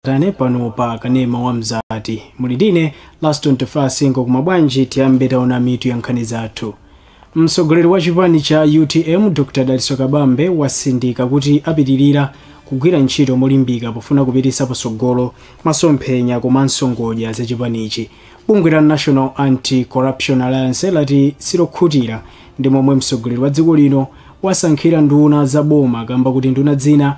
Takulandirani pano pa kanema wa mzati muli ndine Laston Tofaa Singo koma bwanji tiyambe taona mitu ya nkhani zathu. Mtsogoleri wa chipani cha utm Dr Dalitso Kabambe wasindika kuti apitilira kugwira ntchito molimbika pofuna kupitisa patsogolo masomphenya komanso ngodya za chipanichi. Bungwe la National Anti-Corruption Alliance lati silokhutira ndi momwe mtsogoleri wa dziko lino wasankhira nduna za boma kamba kuti nduna zina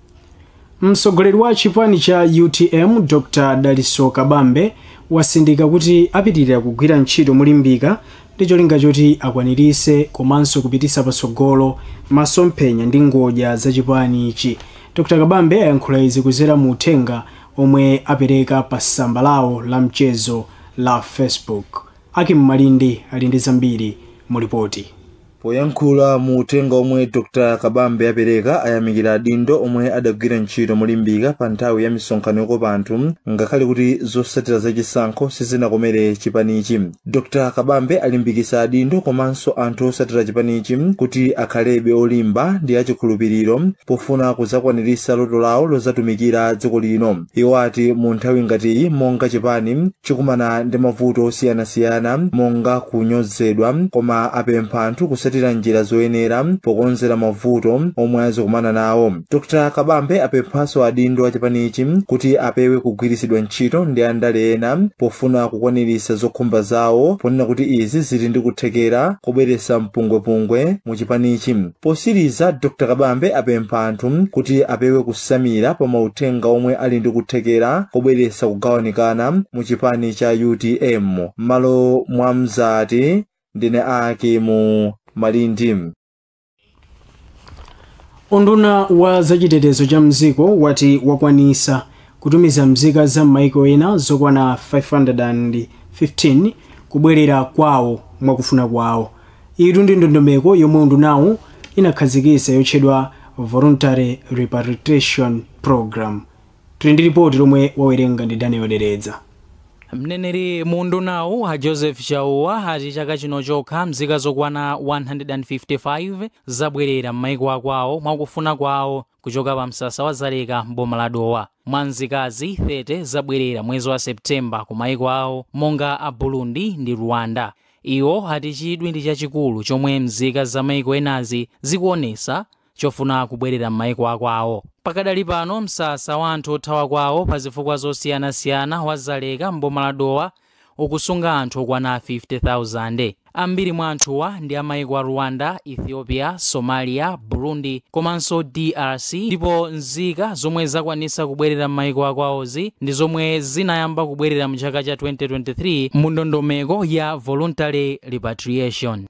Mtsogoleri wa chipani cha utm Dr Dalitso Kabambe wasindika kuti apitilira kugwira ntchito molimbika ndi cholinga choti akwaniritse komanso kupititsa patsogolo masomphenya ndi ngodya za chipanichi. Dr Kabambe ayankhula izi kuzera mu uthenga omwe apereka pa samba lawo la mchezo la Facebook. Akim Malindi ali ndi zambiri mu lipoti. Poyankhula mu uthenga omwe Dr Kabambe apereka, ayamikira adindo omwe adagwira ntchito molimbika pa nthawi ya misonkhano yokopa anthu ngakhale kuti zosatira za chisankho sizinakomere chipanichi. Dr Kabambe alimbikisa adindo komanso anthu osatira chipanichi kuti akhalebe olimba ndi achikhulupiriro pofuna kuzakwanirisa loto lawo lozatumikira dziko lino. Iwo ati mu nthawi ngati iyi monga chipani chikumana ndi mavuto osiyanasiyana monga kunyozedwa koma apempha anthu kusatira njira zoyenera pokonzera mavuto omwe azikumana nawo dr kabambe apemphanso adindo a chipanichi kuti apewe kugwiritsidwa ntchito ndi andale ena pofuna kukwaniritsa zokhumba zawo ponena kuti izi zili ndi kuthekera kobweretsa mpungwepungwe mu chipanichi Posiriza, Dr Kabambe apempha anthu kuti apewe kusamira pa mauthenga omwe ali ndi kuthekera kobweretsa kugawanikana mu chipani cha utm m'malo mwa mzati ndine Akim Malindi unduna wa zachitetezo cha mdziko wati wakwanisa kutumiza mzika za m'maiko ena zokwana 515 kubwerera kwawo mwakufuna kwawo Iyitu ndi ndondomeko yomwe undunawu inakhazikitsa yotchedwa Voluntary Repatriation Programme. Tili ndi lipoti lomwe wawerenga ndi Daniel Deredza. Mneneri mu undunawu, a Joseph Chauwa, ati chaka chino chokha mzika zokwana 155 zabwerera m'maiko akwawo mwakufuna kwawo. kuchoka pa msasa wa Dzaleka m'boma la Dowa. Mwa mzikazi 30 zabwerera mwezi wa September ku maiko awo monga a Burundi ndi Rwanda. Iwo ati chidwi ndi chachikulu chomwe mzika za maiko enazi zikuonesa chofuna kubwerera m'maiko akwawo. Pakadali pano msasa wa anthu othawa kwawo pa zifukwa zosiyanasiyana wa Dzaleka m'boma la Dowa ukusunga anthu okwana 50,000. Ambiri mwa anthuwa ndi a mayiko a Rwanda, Ethiopia, Somalia, Burundi komanso DRC ndipo nzika zomwe zakwanitsa kubwerera m'mayiko akwawozi ndi zomwe zinayamba kubwerera mu chaka cha 2023 mu ndondomeko ya Voluntary Repatriation.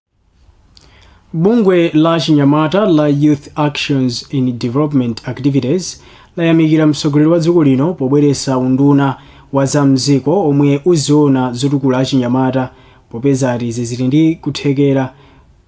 bungwe la chinyamata la youth actions in development activities layamikira mtsogoleri wa dziko lino pobweretsa unduna wa za mdziko omwe uziona zotukula achinyamata popeza ati izi zili ndi kuthekera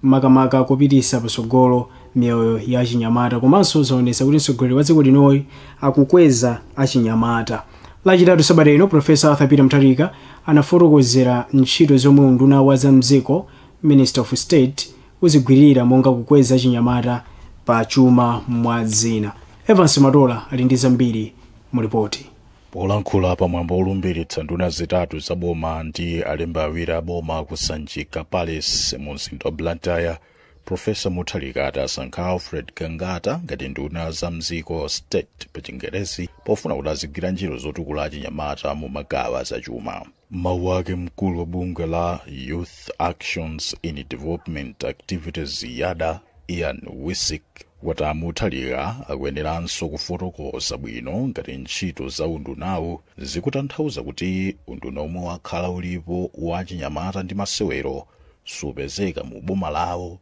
makamaka kopititsa patsogolo miyoyo ya achinyamata komanso zaonetsa kuti mtsogoleri wa dziko linoyi akukweza achinyamata Lachitatu sabata ino, Professor Arthur Peter Mutharika anafotokozera ntchito zomwe unduna wa za m'dziko, Minister of State, uzigwira monga kukweza achinyamata pa chuma mwa zina. Evans Matola ali ndi zambiri mu lipoti. polankhula pa mwambo olumbiritsa nduna zitatu za boma ndi alembi awiri a boma ku sanjika palace mu mzinda wa blantyre profesa muthalika ati asankha alfred gangata ngati nduna za mdziko state pachingerezi pofuna kuti azigwira ntchito zotukula achinyamata mu magawo zachuma mawu ake mkulu wa bungwe la youth actions in development activities yada ian wisiki wati amuthalika akuyeneranso kufotokoza bwino ngati ntchito za undunawu zikutanthauza kuti unduna omwe wakhala ulipo wa achinyamata ndi masewero supezeka mu boma lawo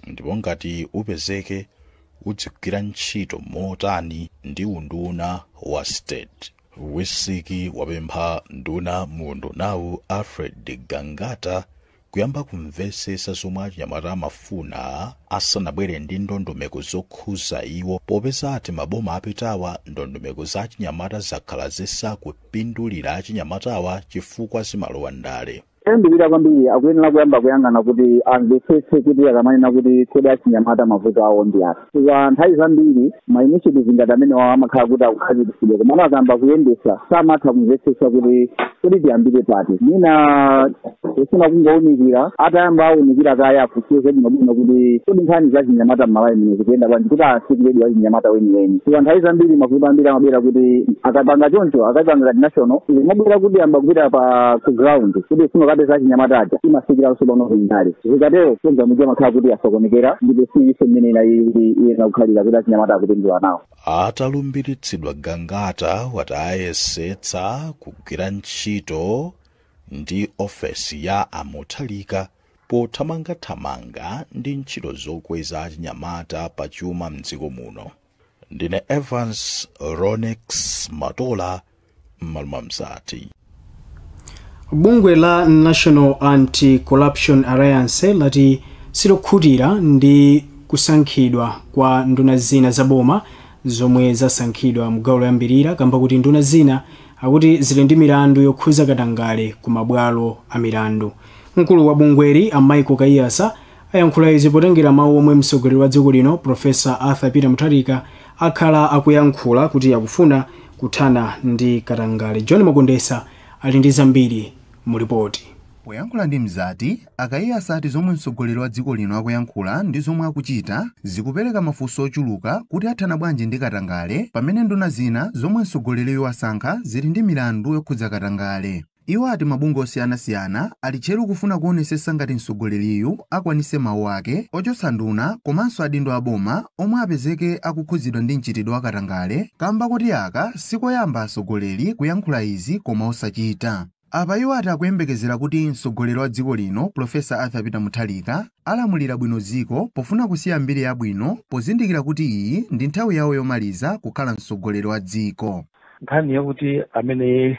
ndipo ngati upezeke udzigwira ntchito motani ndi unduna wa state wisiki wapempha nduna mu undunawu alfred gangata kuyamba kumvesesa zomwe achinyamata amafuna asanabwere ndi ndondomeko zokhuza iwo popeza ati maboma apitawa ndondomeko za achinyamata zakhala zisakupindulira achinyamatawa chifukwa zimalowa ndale poyambirira kwambiri akuyenera kuyamba kuyang'ana kuti amvetsetse kuti akamanena kuti kodi achinyamata mavuto awo ndi ati chifukwa nthawi zambiri ma initiative ngati amenewawo amakhala kuti akukhazikitsidwa komano akayamba kuyendesa samatha kumvetsetsa kuti kodi tiyambire pati mwina kufuna kungounikira atayamba aunikira kaye afufuze bwinobwino kuti kodi nkhani za chinyamata mmalawi muno zikuyenda bwanji kuti afikiredi achinyamata weniweni chifukwa nthawi zambiri mavuto ambiri amabwera kuti akapanga choncho akapanga ngati national zimabwera kuti yayamba kupita pa ah, ku ground kuti zikawapeze achinyamata aja zimafikiranso pena kundale zikatero programu ija imakhala kuti yasokonekera ndipo siyise mmene ina ili iyena kukhalira kuti achinyamata akapindula nawo atalumbiritsidwa gangata wati ayesetsa kugwira ntchito ndi ofesi ya amuthalika pothamangathamanga ndi ntchito zokweza achinyamata pa chuma mdziko muno ndine evans ronex matola mmaluma Mzati bungwe la national anti-corruption alliance lati silokhutira ndi kusankhidwa kwa nduna zina za boma zomwe zasankhidwa mgawo loyambirira kamba kuti nduna zina akuti zili ndi milandu yokhuza katangale ku mabwalo a milandu mkulu wa bungweli a michael kaiyasa ayankhula izi potengera mawu omwe mtsogoleri wa dziko lino profesa arthur peter mutharika akhala akuyankhula kuti akufuna kuthana ndi katangale john makondesa ali ndi zambiri mu lipoti poyankhula ndi mzati a kaiyasa ati zomwe mtsogoleri wa dziko lino akuyankhula ndi zomwe akuchita zikupereka mafunso ochuluka kuti athana bwanji ndi katangale pamene nduna zina zomwe mtsogoleriyu wasankha zili ndi milandu yokhudza katangale Iwo ati mabungwe osiyanasiyana ali tcheru kufuna kuonesesa ngati mtsogoleriyu akwanise mawu ake ochotsa nduna komanso adindo a boma omwe apezeke akukhudzidwa ndi mchitidwe wa katangale kamba koti aka si koyamba atsogoleri kuyankhula izi koma osachita. Apa iwo ati akuyembekezera kuti mtsogoleri wa dziko lino Prof Arthur Peter Mutharika alamulira bwino dziko pofuna kusiya mbiri yabwino pozindikira kuti iyi ndi nthawi yawo yomaliza kukhala mtsogoleri wa dziko. Nkhani yakuti amene